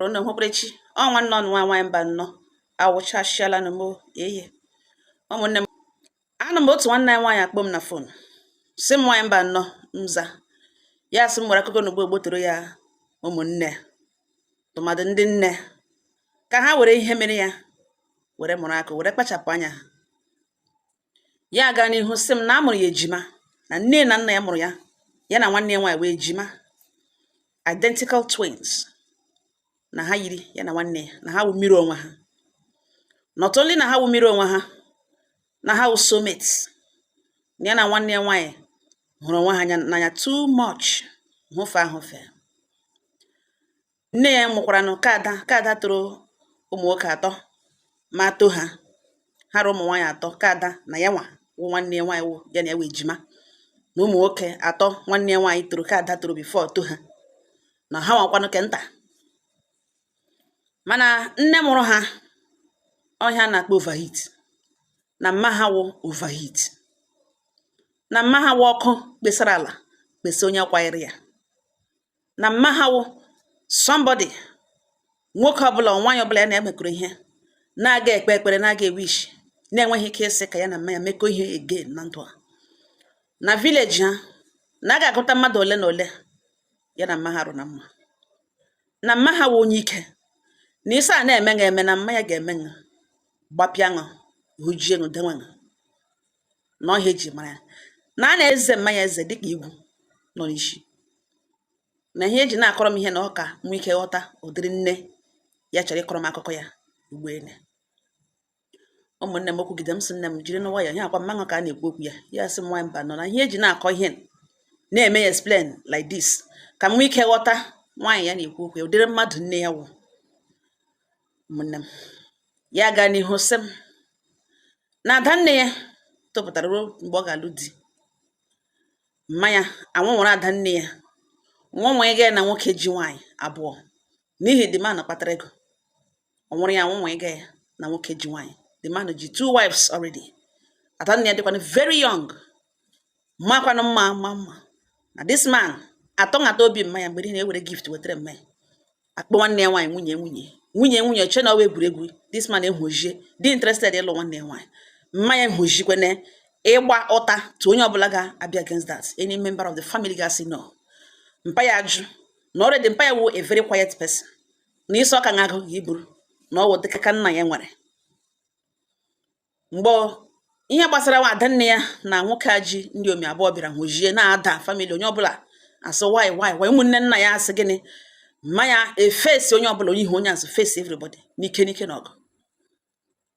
unu hụkwara chi o ọ nwanne unu nwa nwaanyị mbanọ awụchasịalanụ m o ehe ụmụnne m anọ m otu nwanne anyị nwaanyị akpọọ m na fon sị m nwaanyị mbanọ m za ya sị m nwere akụkọ na ugbo toro ya ụmụnne tụmadụ ndị nne ka ha were ihe mere ya were mụrụ akọ were kpachapụ anya ya gaa n'ihu sị m na a mụrụ ya ejima na nne na nna ya mụrụ ya ya na nwanne ya nwaanyị wụ ejima identical twins na ha yiri ya na nwanne ya na ha wụ mirror onwe ha not only na ha wụ mirror onwe ha na ha wụ soulmates na ya na nwanne ya nwaanyị hụrụ onwe ha n'anya too much hụfe ahụfe nne ya mụkwaranụ ke ada ke ada tọrọ ụmụ nwoke atọ ma tọọ ha ha ra ụmụ nwaanyị atọ ke ada na ya nwa wụ nwanne ya nwaanyị wụ ya na ya wụ ejima na ụmụ nwoke atọ nwanne ya nwaanyị tọrọ ke ada tọrọ before tọọ ha na ha nwakwanụ ke nta mana nne mụrụ ha ọ ihe a na-akpọ overheat na mma ha wụ overheat na mma ha wụ ọkụ kpesara ala kpesa onye kwanyere ya na mma ha wụ somebody nwoke ọbụla nwaanyị ọbụla ya na ya mekọrọ ihe na-aga ekpe ekpere na-aga ewish na-enweghị ike ịsị ka ya na mma ya mekọ ihe again na ndụ a na village ha na a ga-agụta mmadụ ole na ole ya na mma ha rụ na mma na mma ha wụ onye ike na isi a na-eme eme na mma ya ga-eme ṅụ gbapịa ṅụ hụjie ṅụ dewe ṅụ na ọ ihe eji mara ya na a na-eze mma ya eze dịka igwu nọ n'isi na ihe eji na-akọrọ m ihe na ọ ka m nwee ike ghọta ụdịrị nne ya chọrọ ịkọrọ m akụkọ ya ugbu a ụmụnne m o kwugide m sị nne m jirinụ nwayọọ ọkwa mma ṅụ ka a na-ekwu okwu ya ya sị m nwaanyị mbanọ na ihe eji na-akọ ihe na-eme ya explain like this ka m nwee ike ghọta nwaanyị ya na-ekwu okwu ya ụdịrị mmadụ nne ya wụ ụmụnne m ya gaa n'ihu sị m na ada nne ya topụtara ruo mgbe ọ ga-alụ di mma ya anwụnwụrụ ada nne ya nwa nwa gaa na nwoke ji nwaanyị abụọ n'ihi the man kpatara ego ọ nwụrụ ya nwa nwa gaa na nwoke ji nwaanyị the man ji two wives already ada nne ya dịkwanụ very young makwanụ mma mana this man atọ ngata obi mma ya mgbe niile ewere gift wetara mma ya akpọ nwanne ya nwaanyị nwunye nwunye nwunye nwunye che na ọ wụ egwuregwu this man ehojie dị interested ịlụ nwanne ya nwaanyị mma ya ehojikwene ịgba ụta to onye ọbụla ga-abịa against that any member of the family ga-asị no mpa ya ajụ na already mpa ya wụ a very quiet person na isi ọka na-agụ ga iburu na ọ wụ dịka ka nna ya nwere mgbe ihe gbasara nwa ada nne ya na nwoke a ji ndị omi abụọ bịara hụjie na-ada famili onye ọbụla asị why why why ụmụnne nna ya asị gịnị mma ya efesi onye ọbụla onye ihu onye azụ fesi everybody n'ike n'ike na ọ wụ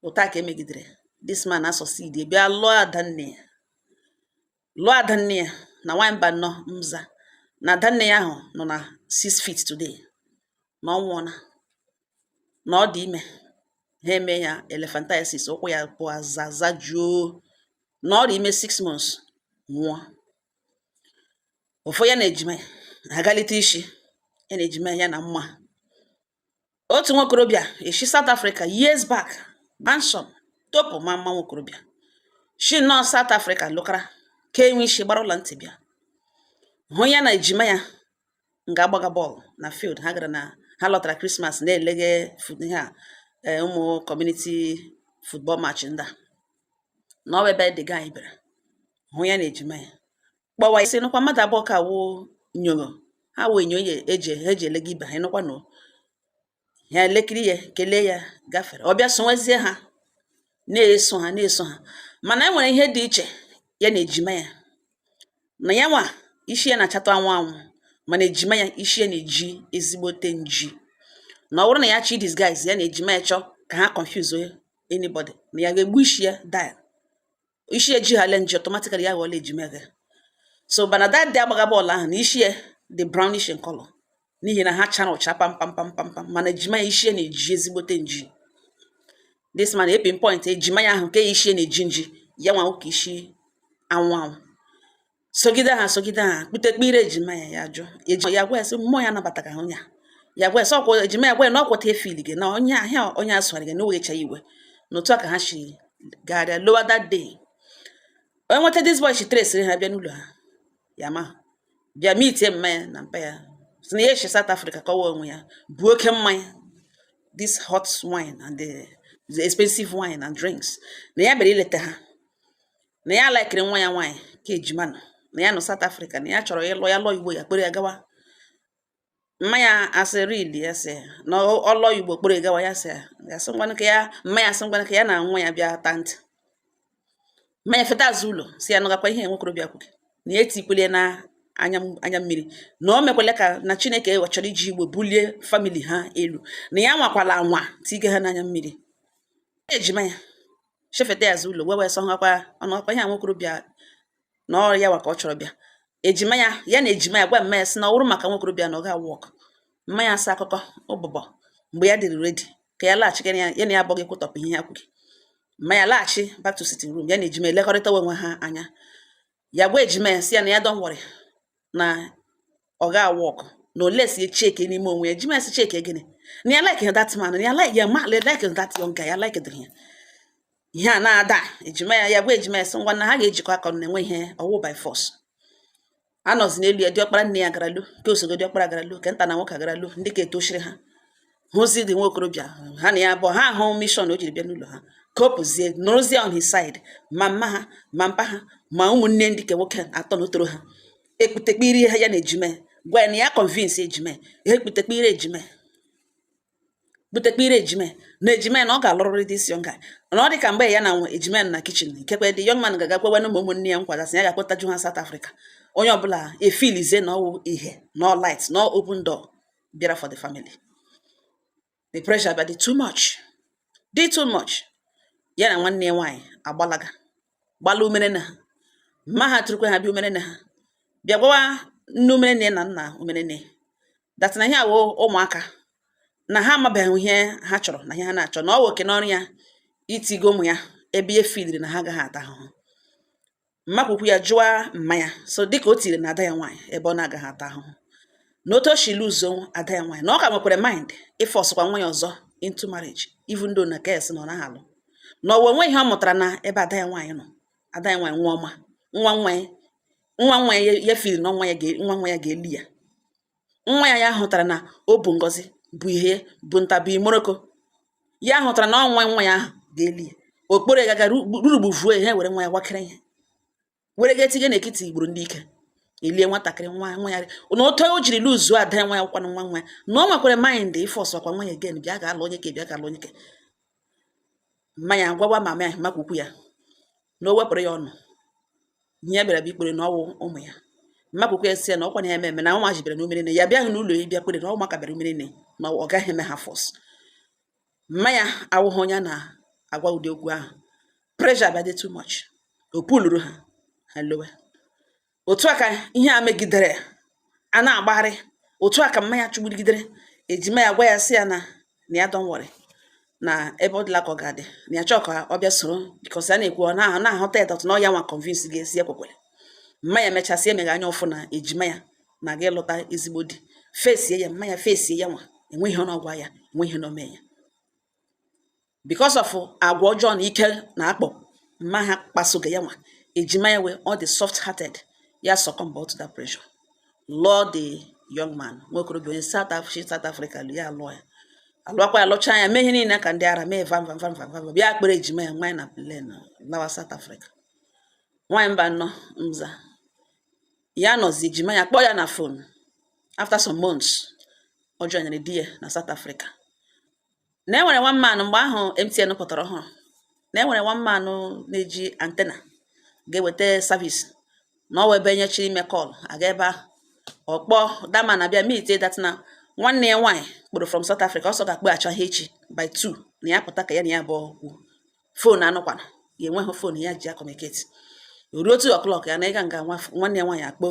otu a ka e megidere this man asọsidi bịa lụọ ada nne ya lụọ ada nne ya na nwaanyị mba nnọọ mza na ada nne ya ahụ nọ na six feet today na ọ nwụọla na ọ dị ime ha eme ya elephantiasis ụkwụ ya abụọ azaza juo na ọ dị ime six months nwụọ ọ fọ ya na ejima ya agalite isi ya na ejima ya na mma otu nwokorobịa eshi South Africa years back handsome topu ma mma nwokorobịa shi nọ South Africa lụkara ka enwe isi gbara ọla ntị bịa hụ ya na ejima ya nga a gbaga bọọlụ na field ha gara na ha lọtara krismas na-elege fut- ihe a eh, ụmụ kọmuniti futbọl match ndị a na ọ wụ ebe the guy bịara hụ ya na ejima ya kpọwa isi nụkwa mmadụ abụọ ka wụ nyoro ha wụ enyo e ji elega ibe ha ịnụkwa na ya elekiri ya kelee ya gafere ọ bịa sowezie ha na-eso ha na-eso ha mana e nwere ihe dị iche ya na ejima ya na ya nwa isi ya na-achatụ anwụ anwụ mana ejima ya isi ya na-eji ezigbote nji na ọ bụrụ na ya chọọ disguise ya na ejima ya chọọ ka ha confuse anybody na ya ga-egbu isi ya dye isi ya ejihala nji automatically ya ghọọla ejima gị so mana that day a gbaga bọọlụ ahụ na isi ya dị brownish in color n'ihi na ha chara ụcha pam pam pam pam pam mana ejima ya isi ya na-eji ezigbote nji this man epinpoint ejima ya ahụ nke isi ya na-eji nji ya nwa wụ ke isi anwụ anwụ sogide ha sogide ha kputekpe ire ejima ya ya jụọ ejima ya gwa ya sị mmụọ ya anabataghị onye a ya gwa ya sị ọkwa ejima ya gwa ya na ọkwata efil gị na onye ahịa onye asụgharị gị na o wecha iwe na otu a ka ha si gagharịa lọwa that day onye nweta this boy shi tresịrị ha bịa n'ụlọ ha ya ma bịa mitie mma ya na mpa ya sị na ya eshi South Africa kọwa onwe ya bu oke mmanya this hot wine and the, the expensive wine and drinks na ya bịara ileta ha na ya laikiri nwa ya nwaanyị ke ejima nụ na ya nọ South Africa na ya chọrọ ịlụ ya lụọ Igbo ya kpere ya gawa mma ya asị really ya sị na ọ lụọ Igbo kpere gawa ya sị ya sị ngwanụ ka ya mma ya sị ngwanụ ka ya na nwa ya bịa ta ntị mma ya feta azụ ụlọ sị ya nụgakwa ihe nwokorobịa kwuke na ya etikwele na anya mmiri na o mekwele ka na Chineke chọrọ iji Igbo bulie famili ha elu na ya nwakwala anwa tige ha n'anya mmiri ejima ya shefeta ya azụ ụlọ wee wee sọ hakwa ọnụ ọkwa ihe a nwokorobịa na ọ ya wa ka ọ chọrọ bịa ejima ya ya na ejima ya gwa mma ya sị na ọ wụrụ maka nwokorobịa na ọ ga work mma ya asa akụkọ ụbụbọ mgbe ya dịrị ready ka ya laghachi ya na ya abụghị kwụtọpụ ihe ya kwuru mma ya laghachi back to sitting room ya na ejima elekọrịta onwe ha anya ya gwa ejima ya sị ya na ya don't worry na ọ ga work na unless ya cheke n'ime onwe ya ejima sị cheke gịnị na ya like that man na ya like ya ma like that young guy ya like dịrị ya ihe a na-ada ejima ya ya gwa ejima ya sị ngwa na ha ga-ejikọ aka na enwe ihe ọ wụ by force anọzi n'elu ya diọkpara nne ya gara lu ka osogo diọkpara gara lu ka nta na nwoke gara lu ndị ke etochiri ha hụzi the nwokorobịa ha na ya bụ ha ahụ mission o jiri bịa n'ụlọ ha ka ọ pụzie nọrọzie on his side ma mma ha ma mpa ha ma ụmụnne ndị nke nwoke atọ na tọrọ ha ekputekpiri ha ya na ejima gwa ya na ya convince ejima ha ekputekpiri ejima butekpiri ejima na ejima na ọ ga-alụrịrị this young guy na ọ dị ka mgbe ya na nwa ejima na kitchen nkekwe the young man ga-aga kwewe na ụmụ ụmụnne ya nkwa ga sị ya ga-akpọtaju ha South Africa onye ọbụla efilizie na ọ wụ ihe na light na open door bịara for the family the pressure bịa dị too much dị too much ya na nwanne ya nwaanyị agbalaga gbala umere nne ha mma ha tụrụkwa ha bịa umere nne ha bịa gwawa nne umere nne na nna umere nne that na ihe a wụ ụmụaka na ha amabeghị ihe ha chọrọ na ihe ha na-achọ na ọ wụkwanụ ọrụ ya itiga ụmụ ya ebe ya filiri na ha agaghị ata ahụhụ mma ke ukwu ya jụọ mma ya so dịka o tiri na ada ya nwaanyị ebe ọ na-agaghị ata ahụhụ na otu o si luzuo ada ya nwaanyị na ọ ka nwekwara mind ịfọsụkwa nwa ya ọzọ into marriage even though na kes na ọ naghị alụ na ọwa o nwe ihe ọ mụtara na ebe ada ya nwaanyị nọ ada ya nwaanyị nwụọ ma nwa nwa ya nwa nwa ya ya filiri na nwa ya ga- nwa nwa ya ga-eli ya nwa ya ya hụtara na ọ bụ ngọzi bụ ihe bụ nta bụ imoroko ya hụtara na ọ nwa nwa ya ahụ ga-eli ya okporo gaga rurugbu vuo ihe were nwa ya gwakere ihe were ga etinye n'ekiti igburu ndị ike elie nwatakịrị nwa nwa ya na otu o jiri luzuo ada ya nwa ya kwanụ nwa nwa ya na ọ nwekwara mind ịfọsụkwa nwa ya again bịa ga-alụ onye ke bịa ga-alụ onye ke mma ya gwawa mama ya mma ke ukwu ya na o wepụrụ ya ọnụ ihe ya bịara bụ ikpere na ọ wụ ụmụ ya mma ke ukwu ya sị ya na ọkwa na ya ememe na ụmụ ji bịara na umere nne ya bịaghị n'ụlọ ya bịa kpere na ụmụaka bịara umere nne na ọ gaghị eme ha force mma ya awụghị onye a na-agwa ụdị okwu ahụ pressure bịa dị too much o puluru ha ha lowe Otu a ka ihe a megidere a na-agbagharị. Otu a ka mma ya chụgbudigidere ejima ya gwa ya sị ya na na ya don't worry na ebe ọ dịla ka ọ ga-adị na ya chọọ ka ọ bịa soro because a na-ekwu ọ na na-ahụta ya that na ọ ya nwa convince ga-esi ya kwekwere. Mma ya mechasịa emeghe anya ọ fụ na ejima ya na-aga ịlụta ezigbo di fesie ya mma ya fesie ya nwa enweghị ihe ọ na-agwa ya enweghị ihe na o mee ya. because of agwa ọjọọ na ike na akpọ mma ha kpasoga ya nwa ejima ya wee ọ dị soft hearted ya succumb to that pressure lụọ the young man nwa okorobịa onye South Africa South Africa lụ ya lụọ ya alụakwa ya lụchaa ya mee ihe niile ka ndị ara mee vam vam vam vam vam bịa kpere ejima ya nwaanyị na plane lawa South Africa nwaanyị Mbano mza ya nọzi ejima ya kpọọ ya na phone after some months ọ joinere di ya na South Africa na e nwere one man mgbe ahụ MTN pụtara ọhụrụ na e nwere one man na-eji antena ga-eweta service na ọ wụ ebe onye chọrọ ime call aga ebe ahụ ọ kpọ that man abịa meet that na nwanne ya nwaanyị kpọrọ from South Africa ọ sị ọ ga-akpọghachi ya echi by two na ya pụta ka ya na ya abụọ kwuo phone anụkwana ya enweghị phone ya ji acommunicate ruo two o'clock ya na ịga nga nwanne ya nwaanyị akpọ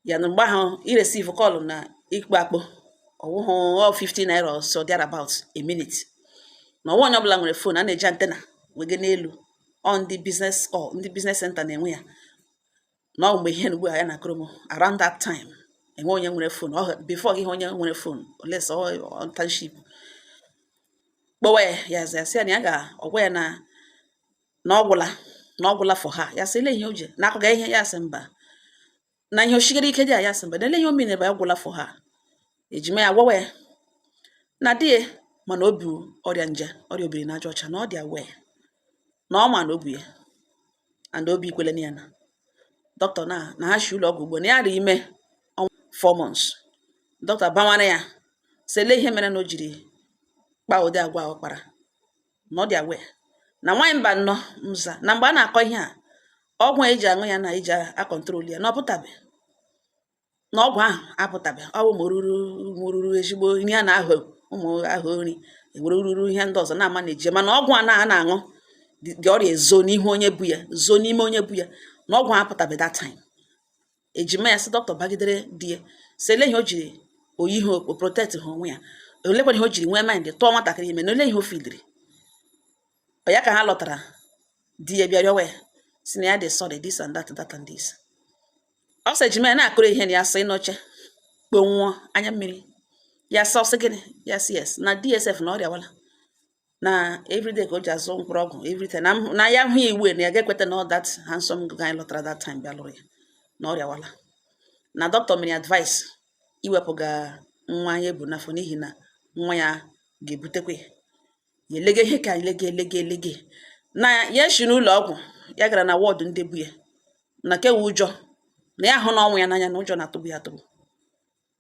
ya na mgbe ahụ ireceive call na ịkpọ akpọ ọ wụhụ 50 naira or so thereabout a minute na ọwa onye ọbụla nwere phone a na-eji antena wege n'elu ọ ndị business ọ ndị business center na-enwe ya na ọ mgbe ihe ugbu a ya na-akọrọ m around that time enwe onye nwere phone before gị ahụ onye nwere phone unless ọ township kpọwa ya ya zia sị ya na ya ga-agwa ya na na ọ gwụla na ọ gwụla for her ya sị ele ihe o ji na-akọga ihe ya sị mba na ihe o shigara ike dị a ya sị mba na ele ihe ọ mean bụ ya gwụla for her ejima ya gwawa ya na di ya ma na o bu ọrịa nje ọrịa obiri n'aja ọcha na ọ dị aware na ọ ma na o bu ya and obi ikwele na ya na dọkịta na na ha shi ụlọ ọgwụ ugbu a na ya dị ime ọnwa four months dọkịta bawara ya sị ele ihe mere na o jiri kpaa ụdị agwa ahụ ọ kpara na ọ dị aware na nwaanyị Mbano mza na mgbe a na-akọ ihe a ọgwụ a eji aṅụ ya na eji acontrol ya na ọ pụtabe na ọgwụ ahụ apụtabe ọ wụ ma oruru oruru ezigbo nri a na-ahụ ụmụ ahụ nri enwere oruru ihe ndị ọzọ na-ama na eje mana ọgwụ a na a na-aṅụ ụdị ọrịa ezo n'ihu onye bu ya zoo n'ime onye bu ya na ọgwụ ahụ apụtabe that time ejima ya sị dọkịta bagidere di ya sị ele ihe o jiri oyi ihe o protect ha onwe ya olekwana ihe o jiri nwee mind tụọ nwatakịrị ime na ole ihe o fidiri ọ ya ka ha lọtara di ya bịa rịọwa ya sị na ya dị sorry this and that that and this ọ sị ejima ya na-akọrọ ihe na ya si n'oche kpọnwụọ anya mmiri ya sị ọ sị gịnị ya sị yes na di ya sef na ọ rịawala na everyday ka o ji azụ mkpụrụ ọgwụ everyday na na ya hụ iwu na ya ga-ekweta na that handsome guy lọtara that time bịa lụrụ ya na ọ rịawala na dọkịta mere advice iwepụga nwa ya ebu n'afọ n'ihi na nwa ya ga-ebutekwa ya ya elege ihe ka elege elege elege na ya si n'ụlọ ọgwụ ya gara na ward ndị bu ya na nke wụ ụjọ na ya hụna ọnwụ ya n'anya na ụjọ na-atụgbu ya atụgbu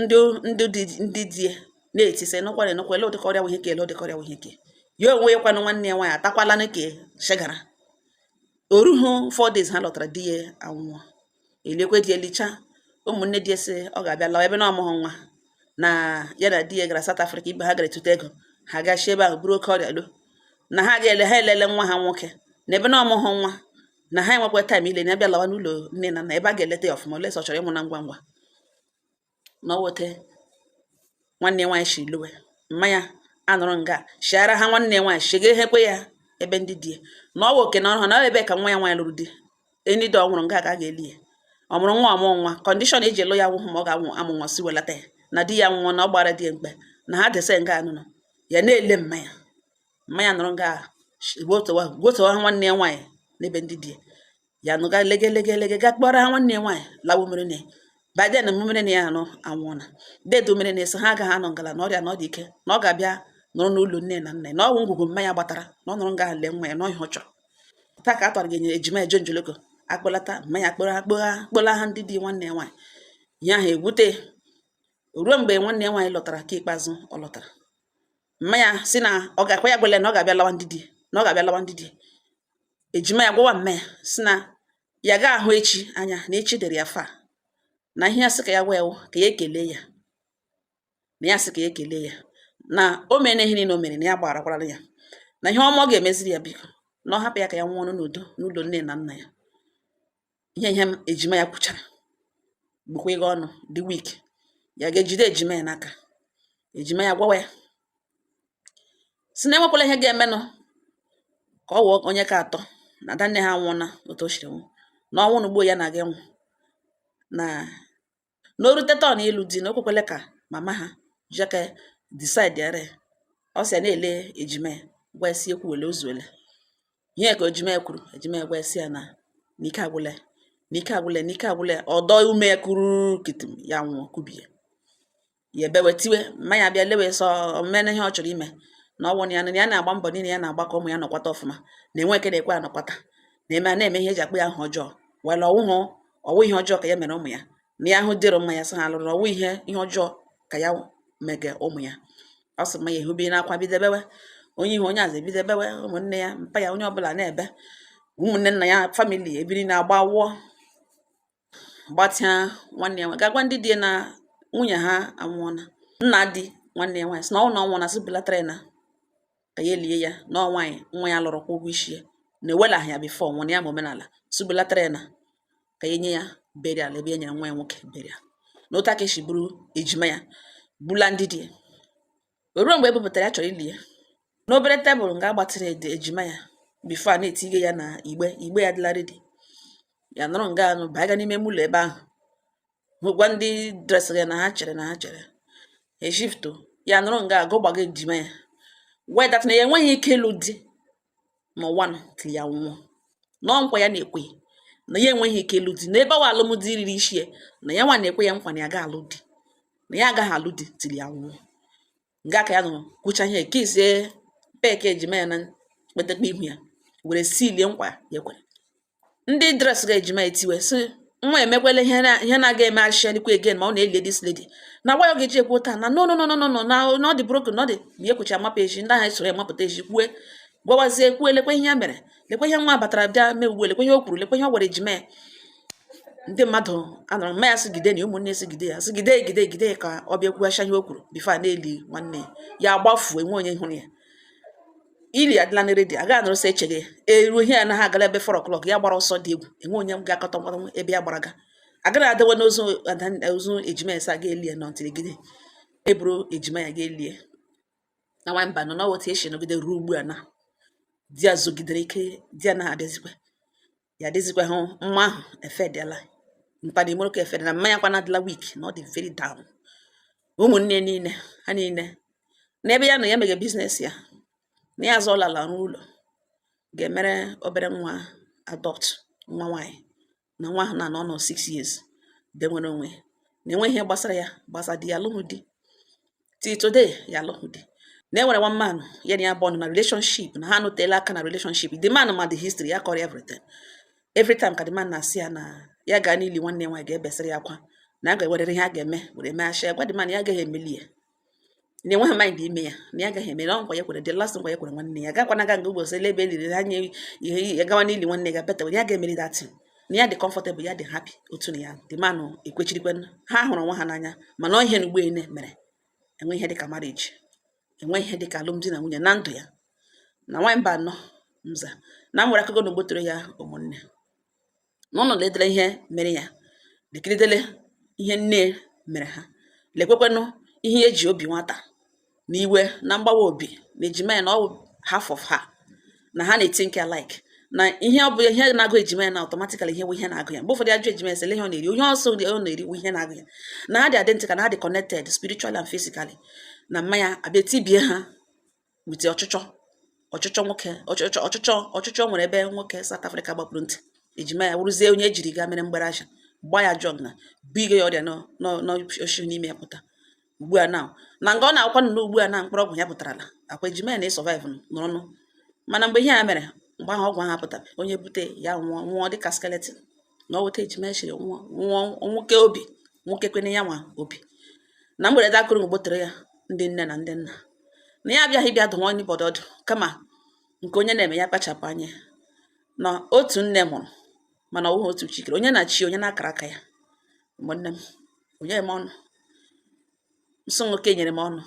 ndị ndị dị ndị di ya na-eti sị nụkwara enụkwa ele ụdịka ọrịa wụ ihe ke ele ụdịka ọrịa wụ ihe ke ya onwe ya kwanụ nwanne ya nwaanyị atakwala na ka shegara o rughị four days ha lọtara di ya anwụọ elikwa di ya elicha ụmụnne di ya sị ọ ga-abịa lawa ebe na ọ mụghị nwa na ya na di ya gara South Africa ibe ha gara etute ego ha gachi ebe ahụ buru oke ọrịa lọ na ha ga-eli ha elile nwa ha nwoke na ebe na ọ mụghị nwa na ha enwekwa time ile na ya bịa lawa n'ụlọ nne na nna ebe a ga-eleta ya ọfụma olesa ọ chọrọ ịmụ na ngwa ngwa na ọ weta nwanne nwaanyị si lọwa mma ya anọrọ nga shiara ha nwanne nwaanyị shiga ehekwe ya ebe ndị di na ọ wụ oke na ọrụ ha na ebe ka nwa ya nwaanyị lụrụ di enyi dị ọ nwụrụ nga ka a ga-eli ya ọ mụrụ nwa ọ mụhụ nwa condition eji alụ ya awụhụ ma ọ ga-amụ amụ nwa sị welata ya na di ya nwụọ na ọ gbara di ya mkpe na ha dese nga anụnụ ya na-ele mma ya mma ya nọrọ nga gwotowa ha nwanne ya nwaanyị n'ebe ndị di ya nọ ga lege lege lege ga kpọrọ ha nwanne ya nwaanyị lawo mere na baden mmere na ya anụ anwụọla dedo mere na-eso ha agaghị anọ nga ala na ọrịa na ọ dị ike na ọ ga-abịa nọrọ n'ụlọ nne na nna ya na ọgwụ ngwugwu mma ya gbatara na ọ nọrọ nga lee nwa ya na ọrịa ọ chọrọ taa ka a tọrọ gị nye ejima eje njoloko akpọlata mma ya kpọrọ akpọgha kpọla ha ndị di nwanne ya nwaanyị ya ha ewute ruo mgbe nwanne ya nwaanyị lọtara ke ikpeazụ ọ lọtara mma ya sị na ọ ga-akwa ya gwele na ọ ga-abịa lawa ndị di na ọ ga-abịa lawa ndị di ejima ya gwawa mma ya sị na ya ga ahụ echi anya na echi dịrị ya far na ihe ya sị ka ya gwa ya ka ya ekele ya na ya sị ka ya ekele ya na o mere ihe niile o mere na ya gbarakwara ya na ihe ọma ọ ga-emeziri ya biko na ọ hapụ ya ka ya nwụọnụ n'udo n'ụlọ nne na nna ya ihe ihe m ejima ya kwuchara bụkwa nga ọ nọ dị weak ya ga-ejide ejima ya n'aka ejima ya gwawa ya sị na enwekwala ihe ga-emenụ ka ọ wụọ onye ke atọ na ada nne ha nwụọna otu o siri nwụ na ọ nwụọna ugbua ya na-aga ịnwụ na na o rute turn ịlụ di na o kwekwele ka mama ha jeke decide ere ọ sị ya na-ele ejima ya gwa ya sị ekwuwele o zuole ihe ke ejima ya kwuru ejima ya gwa ya sị ya na n'ike agwụla ya n'ike agwụla ya n'ike agwụla ya ọ dọọ ume ya kuru kitim ya nwụọ kubie ya ebewe tiwe mma ya bịa lewe sị o meena ihe ọ chọrọ ime na ọ nwụọna ya na ya na-agba mbọ niile ya na-agba ka ụmụ ya nọkwata ọfụma na enwe ke na-ekwe anọkwata na eme a na-eme ihe eji akpọ ya aha ọjọọ were ọ wụhụ ọ wụ ihe ọjọọ ka ya mere ụmụ ya na ya ahụ di dị mma ya sị ha lụrụ ọ wụ ihe ihe ọjọọ ka ya mege ụmụ ya ọ sị mma ya ehube n'akwa bido bewe onye ihu onye azụ ebido bewe ụmụnne ya mpa ya onye ọbụla na-ebe ụmụnne nna ya family ebiri na-agba wụọ gbatịa nwanne ya nwaanyị ga gwa ndị di ya na nwunye ha anwụọna nna di nwanne ya nwaanyị sị na ọ na ọ nwụọna sị bulatara ya na ka ya elie ya na ọ nwaanyị nwa ya lụrụ kwụọ ụgwọ isi ya na ewelaghị ya before ọ nwụọ na ya ma omenala sị bulatara ya na ka ya enye ya burial ebe e nyere nwa ya nwoke burial na otu ahụ ka e si buru ejima ya bula ndị di ya O ruo mgbe e bupụtara ya chọrọ ili ya, n'obere tebụl nga a gbatịrị ejima ya before a na-etinye ya na igbe igbe ya dịla ready ya nọrọ nga anụ baga n'ime ụlọ ebe ahụ hụkwa ndị dresịrị ya na ha chere na ha chere eshifto ya nọrọ nga ahụ gbaga ejima ya wee that na ya enweghị ike ịlụ di n'ụwa nọ till ya nwụọ na ọ nkwa ya na-ekwe na ya enweghị ike ịlụ di na ebe ọ wụ alụmdi riri isi ya na ya nwa na-ekwe ya nkwa na ya ga alụ di na ya agaghị alụ di till ya nwụọ nga ka ya nọ kwuchaa ihe kisie peck ejima ya na kpetekpe ihu ya were sealie nkwa ya kwere ndị dress ga ejima etiwe si nwa emekwela ihe ihe na-aga eme ashialikwa again ma ọ na-eli this lady na gwa ya ga-eji ekwu taa na no no no no no na na ọ dị broken na ọ dị ma ya kwuchi amapụ ezi ndị ahụ esoro ya mapụta ezi kwue gwawazie kwue lekwa ihe ya mere lekwa ihe nwa batara bịa mee ugbu lekwa ihe o kwuru lekwa ihe ọ gwara ejima ya ndị mmadụ anọrọ mma ya sịgide na ụmụnne sịgide ya sịgide egide egide ka ọ bịa kwughasha ihe o kwuru before a na-eli nwanne ya agbafuo enwe onye hụrụ ya ili adịla na ready aga anọrọ sị echege eruo ihe ya na ha agala ebe 4 o'clock ya gbara ọsọ dị egwu enwe onye ga-akọta ngwa ngwa ebe ya gbara ga agaghị adịwa n'ozu ada- ozu ejima ya sị a ga elie nọ ntiri gide eburu ejima ya ga elie na nwa Mbano na ọ wụ otu esi nọgide ruo ugbu a na di ya zogidere ike di anaghị abịazikwa ya dịzikwa hụ nwa ahụ efedela mkpana imoro ka efedela mma ya kwana adịla weak na ọ dị very down ụmụnne niile ha niile n'ebe ya nọ ya mege business ya na ya azụọla ala rụọ ụlọ ga-emere obere nwa adopt nwa nwaanyị na nwa ahụ na anọọna 6 years de nwere onwe na enweghị ihe gbasara ya gbasa di ya alụghị di till today ya alụghị di na enwere one man ya na ya bụ ọnụ na relationship na ha anọtela aka na relationship the man ma the history ya kọrọ everything every time ka the man na-asị ya na ya gaa n'ili nwanne nwaanyị ga-ebesịrị ya akwa na a ga-ewerere ihe a ga-eme were mee achị gwa the man ya agaghị emeli ya na enweghị mind ime ya na ya agaghị eme na nkwa ya kwere the last nkwa ya kwere nwanne ya gakwana aga nga ụbọchị ele ebe eliri anya ihe ya gawa n'ili nwanne ya beta ya ga-emeli that thing na ya dị comfortable ya dị happy otu na ya the man ekwechirikwe ha hụrụ onwe ha n'anya mana ọ ihe na ugboene mere enwe ihe dịka marriage enwe ihe dịka alụmdi na nwunye na ndụ ya na nwa Mbano mza na nwere akụkọ na ogbotoro ya ụmụnne na unu ledele ihe mere ya lekiridele ihe nne mere ha lekwekwenụ ihe eji obi nwata na iwe na mgbawa obi na ejima ya na ọ half of her na ha na-ethink alike na ihe ọ bụ ihe na-agụ ejima ya na automatically ihe ihe na-agụ ya mgbe ụfọdụ ajụ ejima ya sị ihe ọ na-eri onye ọsọ ọ na-eri ihe na-agụ ya na ha dị identical na ha dị connected spiritually and physically na mama ya abịa tibie ha with ọchịchọ ọchịchọ nwoke ọchịchọ ọchịchọ ọchịchọ nwere ebe nwoke South Africa gbapụrụ ntị ejima ya wụrụzie onye ejiri gaa mere mgbere ahịa gba ya drug na bigo ya ọrịa n'oshi n'ime ya pụta ugbu a na na nga ọ na-akwa nnọọ ugbu a na mkpụrụ ọgwụ ya pụtarala akwa ejima ya na-esurvive n'ọnụ mana mgbe ihe a mere mgbe ahụ ọgwụ ahụ apụtara onye bute ya nwụọ nwụọ dịka skeleton na ọ weta ejima ya chiri nwụọ nwụọ nwoke obi nwoke kwene ya nwa obi na mgberede akụrụ mgbotere ya ndị nne na ndị nna na ya abịaghị bịa dụwa anybody ọdụ kama nke onye na-eme ya kpachapụ anya na otu nne mụrụ mana ọ bụghị otu chi kere onye na chi onye na akara aka ya ụmụnne m o nyeghị m ọnụ nsọ nwoke nyere m ọnụ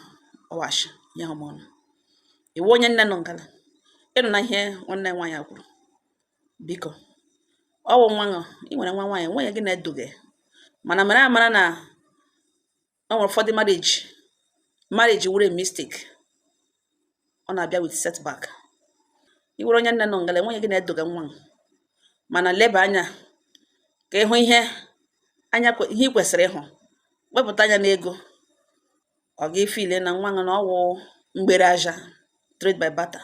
ọwashi nyeghị m ọnụ iwu onye nne nọ ngala ị nụna ihe nwanne nwaanyị a kwuru biko ọ wụ nwa ṅụ ị nwere nwa nwaanyị nwunye gị na-eduga ya mana mara amara na o nwere ụfọdụ marriage marriage wụrụ mistake ọ na-abịa with setback ị wụrụ onye nne nọ ngala nwunye gị na-edoga nwa ṅụ mana leba anya ka ịhụ ihe anya ihe ị kwesịrị ịhụ wepụta anya n'ego ọ ga-efeel na nwa ṅụ na ọwụ mgbere ahịa trade by barter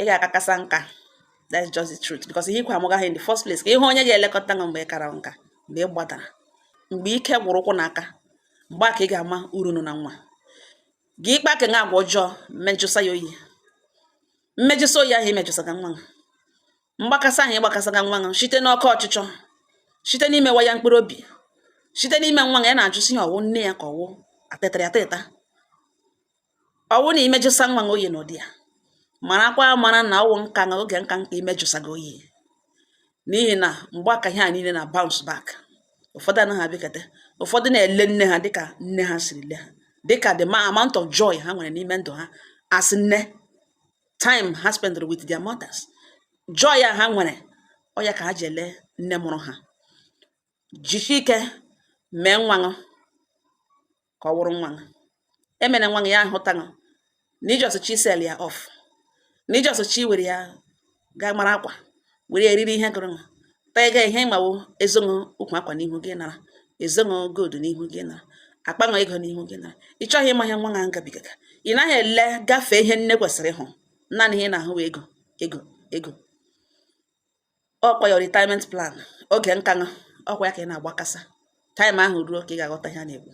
ị ga-akakasa nka that's just the truth because ihe ikwe amụgaghị in the first place ka ịhụ onye ga-elekọta gị mgbe ị kara nka mgbe ị gbadara mgbe ike gwụrụ ụkwụ na aka mgbe a ka ị ga-ama uru nọ na nwa gị ịkpa ka agwa ọjọọ mmejụsa ya oyi mmejụsa oyi ahụ imejụsaga nwa mgbakasa ahụ ịgbakasaga nwa gị site n'oke ọchịchọ site n'imewa ya mkpụrụ obi site n'ime nwa ya na-ajụ sị ya ọwụ nne ya ka ọwụ atụtara atụta ọwụ na imejụsa nwa gị oyi n'ụdị a marakwa amara na ọwụ nka na oge nka nka imejụsa gị oyi n'ihi na mgbe aka ihe a niile na-abounce back ụfọdụ anaghị abịakọta ụfọdụ na-ele nne ha dịka nne ha siri le ha dịka the amount of joy ha nwere n'ime ndụ ha as nne time ha spend with their mothers joy a ha nwere ọ ya ka ha ji ele nne mụrụ ha jisie ike mee nwa ka ọ wụrụ nwa gị emene nwa gị ya ahụta gị na i just sell ya off na i just were ya gaa mara akwa were eriri ihe gụrụ gị taa ga ihe ị ma wụ ezonụ ukwu akwa n'ihu gị nara ezonụ gold n'ihu gị nara akpanụ ego n'ihu gị nara ị chọghị ịma ihe nwa gị gabigaga ị naghị ele gafee ihe nne kwesịrị ịhụ naanị ihe ị na-ahụ ego ego ego ọkwa your retirement plan oge nka ṅụ ọkwa ya ka ị na-agbakasa time ahụ ruo ka ị ga-aghọta ihe a na-ekwu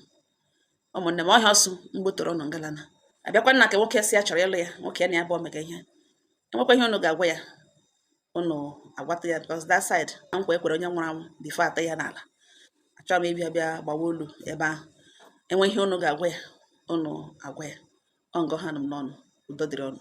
ụmụnne m ọhịa ọsụ mgboto ụnụ ngalana abịakwa nna ka nwoke si ya chọrọ ịlụ ya nwoke ya na ya bụ omega ihe e nwekwa ihe ụnụ ga-agwa ya ụnụ agwata ya because that side na nkwa e kwere onye nwụrụ anwụ before ata ya n'ala achọrọ m ịbịa bịa gbawa olu ebe ahụ e nwee ihe ụnụ ga-agwa ya ụnụ agwa ya ọ ngọ ha nụ m n'ọnụ udo dịrị ụnụ